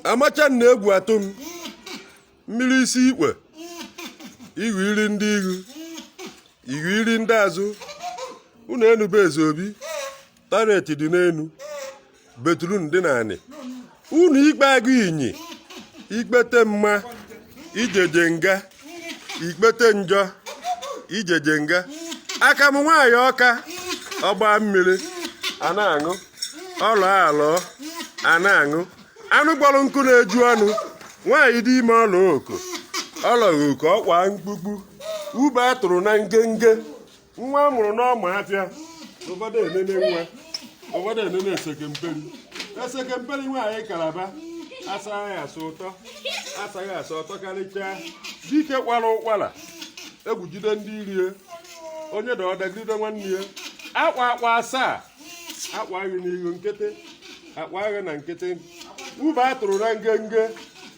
amacha na egwu atụ m mmiri isi ikpe ihu iri ndị ihu ihu iri ndị azụ unu enube eze obi taret dị n'enu betrun dị n'anị unu ikpe agụ inyi ikpete mma ijeje nga ikpete njọ ijeje nga aka m nwaanyị ọka ọgba mmiri a na-aṅụ ọlọ alọ a na-aṅụ anụ kpọrọ nkụ na-eju ọnụ nwaanyị dị ime ọla oko ọlọghị oke ọkwa mkpukpu ube a tụrụ na ngenge nwa a mụrụ n'ọma afịa ụfọdụ enene nwa ụfọdụ enene esekemperi esekemperi nwaanyị kalaba asaghị asa ụtọ asaghị asa ụtọ karịchaa dike kwara ụkwara egwu jide ndị iro ya onye daa ọ dagide nwanne ya akwa akwa asaa akwaghị n'ihu nkịtị akwaghị na nkịtị ube a tụrụ na ngenge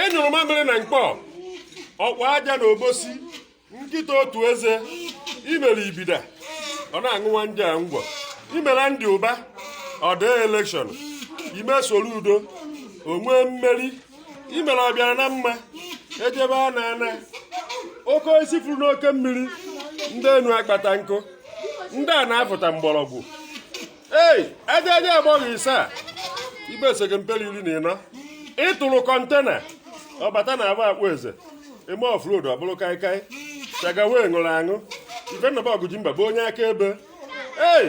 ị nyụrụ mamịrị na mkpọ ọkwa aja na obosi nkịta otu eze i mere Ibida ọ na-aṅụwa nja ngwọ i mere Andy Uba ọ daa elekshọn i mee Soludo o nwee mmeri i mere ọbịara na mma ejebe a na-ana oke osisi furu n'oke mmiri ndị enu akpata nkụ ndị ana afụta mgbọrọgwụ ei ejeje agbọghọ ise a ibe esekemperi iri na ịnọ ị tụrụ kọntena ọ bata na agba akpụ eze eme offload ọ bụrụ kaikai chagawe ṅụrụ aṅụ ife nnọba ọgụ ji mba bụ onye akaebe ei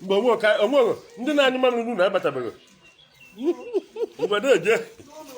mgbe onwe ndị na-anyụ mamịrị n'ụlọ abatabeghị mgbe na-eje